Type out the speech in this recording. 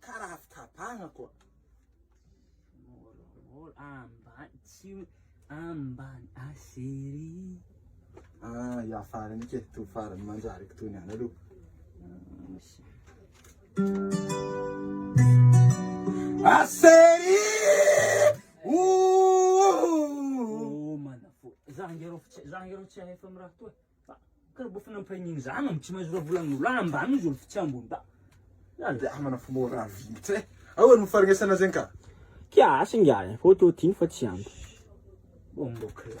Ka raha avy tapahana koa. Môrômôro ambany tsy ambany a chérie. Ah, ya farany ke to farany manjary ko tony any aloha. Ah, chérie! Ouh! Ô manafo. Za nge rô tsy za nge rô tsy ahefa amin'ny raha toa. Kara bof na mpiray niny zany am tsy mahazo ra vola gnolo any ambany izy olo ftsy ambony ba zany de amana fo mo ra viny tse aoa no farnesana zegny ka Kia asa ingahy e, fôty ô tiny fa tsy ampy. Bombo clap.